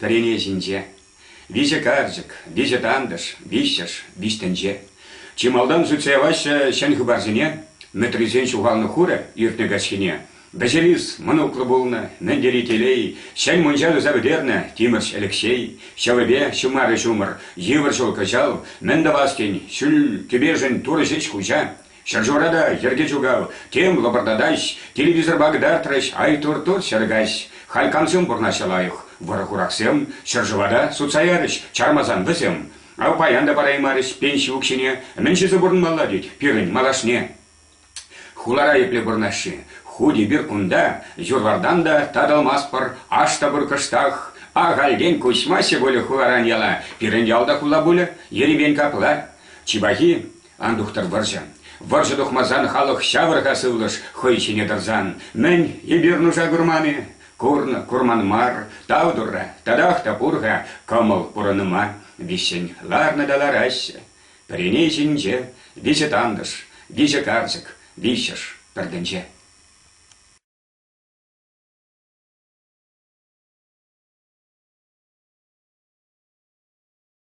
Пӗрене ҫинче. Виҫӗ карчӑк, виҫӗ тантӑш, виҫҫӗш, виҫ тӗнче. Чи малтан сӳтсе яваҫҫӗ ҫӗн хыпарсене, Мӗтрисен ҫухалнӑ хурӗ иртнӗ каҫхине. Вӗҫерис мӑнуклӑ пулнӑ, мӗн тери телей, ҫӗн мунча туса пӗтернӗ Тимӗрҫ Элекҫей, ҫӑвӗпе ҫумарӗ ҫумӑр, йывӑр ҫул кӑҫал, мӗн тӑвас тен, ҫӳл, кӗпешӗн турӑ ҫеҫ хуҫа. Ҫӗршывра та йӗрке ҫукав, тем лӑпӑртатаҫ, телевизорпа кӑтартрӗҫ, ай тур-тур чӗр каҫ. Халь кам-сем пурӑнаҫҫӗ лайӑх, вӑрӑ-хурахсем, ҫӗршыва та сутса ярӗҫ, чармасан вӗсем. Ав паян та параймарӗҫ пенси укҫине, мӗн ҫисе пурӑнмалла тет пирӗн малашне. Хулара епле пурӑнаҫҫӗ? Хуть эпир кунта, юр-вартан та татӑлмастпӑр, аш та пур кӑштах. Ахальтен куҫмаҫҫӗ пулӗ хуларан яла, пирӗн ял та хула пулӗ, ерипен капла. Чи пахи, Ан тухтӑр вӑрҫӑ. Вӑрҫӑ тухмасан халӑх ҫавӑр-ха сывлӑш хӑй ҫине тӑрсан. Мӗн, эпир нуша курман-и? Курнӑ, курман мар. Тав турра, татах та пур-ха кӑмӑл пурӑнӑма. Виҫҫӗн ларнӑ та лараҫҫӗ. Пӗрине ҫинче виҫӗ тантӑш, виҫӗ карчӑк, виҫҫӗш пӗр тӗнче.